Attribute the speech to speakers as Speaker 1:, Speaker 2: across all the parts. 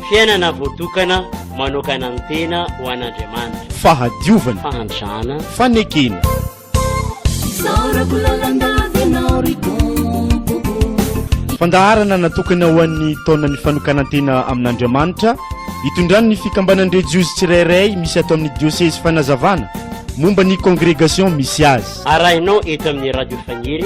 Speaker 1: Fiainana voatokana manokana ny tena ho an'Andriamanitra. Fahadiovana.
Speaker 2: Fahantrana.
Speaker 1: Fanekena.
Speaker 2: Fandaharana natokana ho an'ny taonan'ny fanokanan-tena amin'Andriamanitra, itondran'ny fikambanan-drejiozy tsirairay misy ato amin'ny diosezy fanazavana momba ny kongregasiona misy azy. Arahinao eto amin'ny
Speaker 1: Radio Faniry.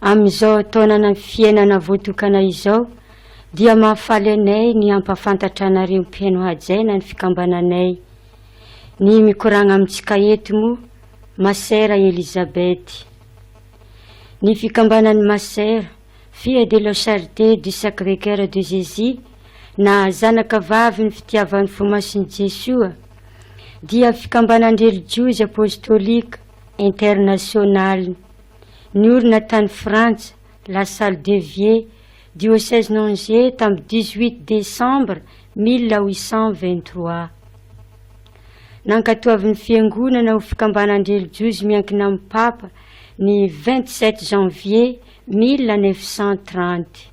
Speaker 3: Amin'izao taonana fiainana voatokana izao dia mahafaly anay ny hampahafantatra anareo mpino hajaina ny fikambananay. Ny mikoragna amintsika eto moa Masera Elisabeth. Ny fikambanan'i Masera, Fille de la Charité du Sacré Coeur de Jésus na Zanaka vavin'ny fitiavan'ny fo masin'i Jesoa dia fikambanan-drelijiozy apôstôlika internasionalina. Niorina tany Frantsa, La Salle de Vieux, Diosezin'Angers tamin'ny dix-huit desambra mille huit cent vingt-trois. Nankatoavin'ny Fiangonana ho fikambanan-drelijiozy miankina amin'ny Papa ny vingt-sept janvier mille neuf cent trente.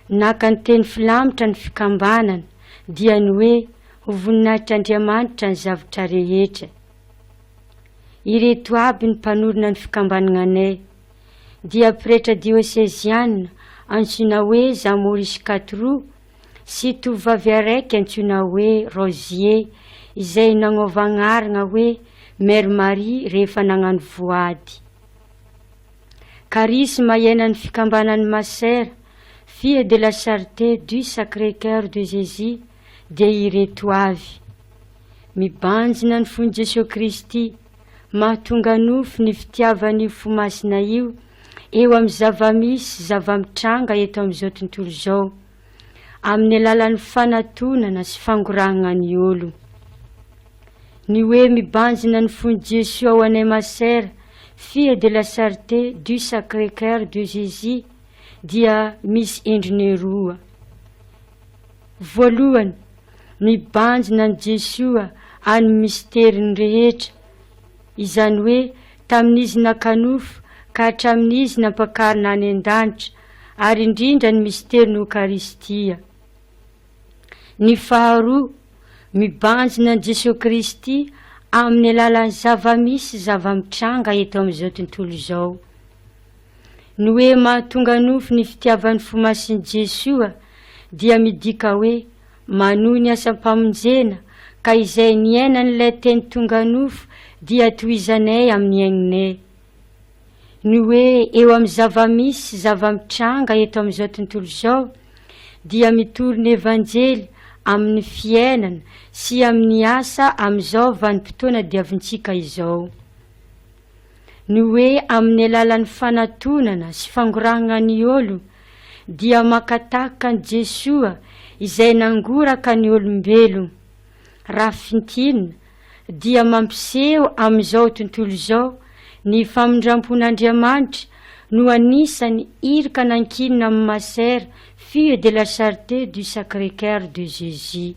Speaker 3: Naka ny teny filamitra ny fikambanana dia ny hoe ho voninahitr'Andriamanitra ny zavtra rehetra. Ireto aby ny mpanorina ny fikambananay dia pretra dioseziana antsoina hoe Jean Maurice Katrou sy tovovavy araiky antsoina hoe Rosie izay nagnaova agnaragna hoe Mère Marie rehefa nagnano voady. Karisma iainan'ny fikambanan'ny Masera Fille de la Charité du Sacré-Coeur de Jésus dia ireto avy. Mibanjina ny fon'i Jesoa Kristy, mahatonga nofo ny fitiavan'io fo masina io eo amin'ny zavamisy sy zavamitranga eto amin'izao tontolo izao, amin'ny alalan'ny fanatonana sy fangorahana ny olo. Ny hoe mibanjina ny fon'i Jesoa ao anay masera, Fille de la Charité du Sacré-Cœur de Jésus dia misy endriny roa. Voalohany, mibanjina an'i Jesoa an'ny misteriny rehetra, izany hoe tamin'izy naka nofo ka hatramin'izy nampakarina any an-danitra, ary indrindra ny misterin'ny Okaristia. Ny faharoa, mibanjina an'i Jesoa Kristy amin'ny alalan'ny zava-misy sy zava-mitranga eto amin'izao tontolo izao. Ny hoe mahatonga nofo ny fitiavan'ny fo masin'i Jesoa dia midika hoe manohy ny asam-pamonjena ka izay niainan'ilay teny tonga nofo dia tohizanay amin'ny aignay. Ny hoe eo amin'ny zava-misy sy zava-mitranga eto amin'izao tontolo izao dia mitory ny Evanjely amin'ny fiainana sy amin'ny asa amin'izao vanim-potoana diavintsika izao. ny hoe amin'ny alalan'ny fanatonana sy fangorahagna ny ôlo dia makatahaka an'i Jesoa izay nangoraka ny ôlombelo. Raha fintinina dia mampiseho amin'izao tontolo izao ny famindrampon'Andriamanitra no anisan'ny iraka nankinina amin'ny Masera Fille de la Charité du Sacré-Coeur de Jésus.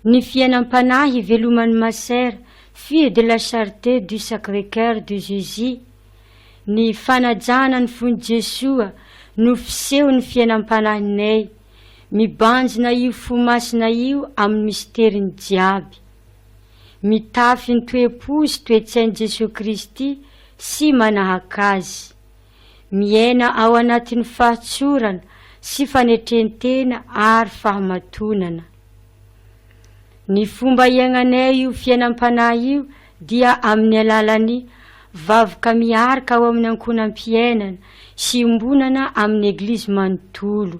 Speaker 3: Ny fiainam-panahy iveloman'ny Masera, Fille de la Charité du Sacré-Coeur de Jésus, Ny fanajana ny fon'i Jesoa no fisehon'ny fiainam-panahinay, mibanjina io fo masina io amin'ny misteriny jiaby. Mitafy ny toe-po sy toe-tsain'i Jesoa Kristy sy manahaka Azy. miaina ao anatin'ny fahatsorana sy fanetren-tena ary fahamatonana. Ny fomba iainanay io fiainam-panahy io dia amin'ny alalan'ny vavaka miarka ao amin'ny ankohonam-piainana sy iombonana amin'ny Eglizy manontolo.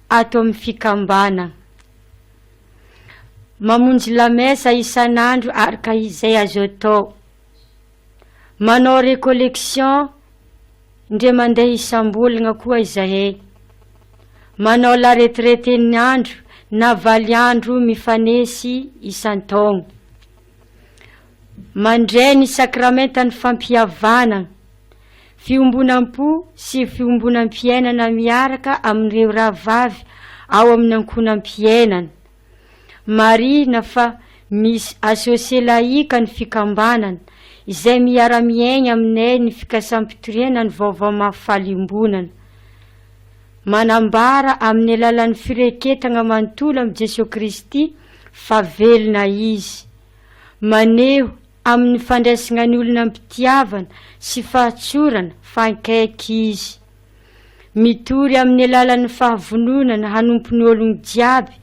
Speaker 3: ato amin'ny fikambanana. Mamonjy lamesa isan'andro araka izay azo atao. Manao recollection indray mandeha isam-bolana koa izahay. Manao la retraite-n'ny andro na valo andro mifanesy isan-taona. Mandray ny sakramentan'ny fampihavanana. Fiombonam-po sy fiombonam-piainana miaraka amin'ireo rahavavy ao amin'ny ankohonam-piainana. Marihina fa misy Associé Laïque ny fikambanana, izay miara-miaigna aminay ny fikasam-pitoriana ny vaovao mahafaly iombonana. Manambara amin'ny alalan'ny fireketagna manontolo amin'i Jesoa Kristy fa velona Izy. Maneho Amin'ny fandraisana ny olona am-pitiavana sy fahatsorana, fankaiky Izy. Mitory amin'ny alalan'ny fahavononana hanompo ny olony jiaby,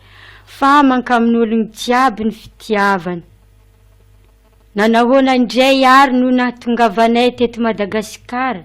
Speaker 3: fa mankamin'ny olony jiaby ny fitiavany. Nanahoana indray ary no nahatongavanay teto Madagasikara?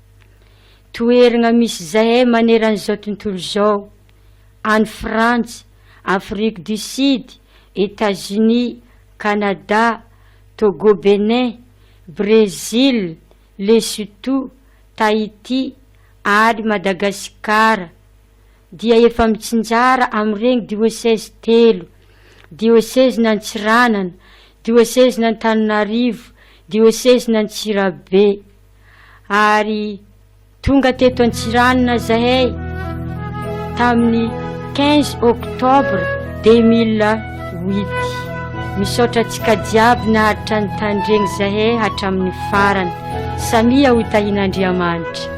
Speaker 3: Toeragna misy zahay maneran'izao tontolo izao, any Frantsa, Afrique du Sud, Etats-Unis, Canada, Togo Bénin, Brésil, Lesotho, Tahiti ary Madagasikara dia efa mitsinjara amin'ireny diocèse telo, Diosezin'Antsiranana, Diosezin'Antananarivo, Diosezin'Antsirabe. ary tonga teto Antsiranana zahay tamin'ny 15 octobre 2008. Misaotra antsika jiaby naharitra ny tandregny zahay hatramin'ny farany. Samia ho tahin'Andriamanitra.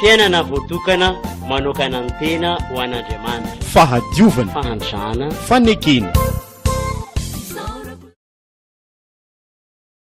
Speaker 1: Fiainana voatokana manokana ny tena ho an'Andriamanitra. Fahadiovana. Fahantrana. Fanekena.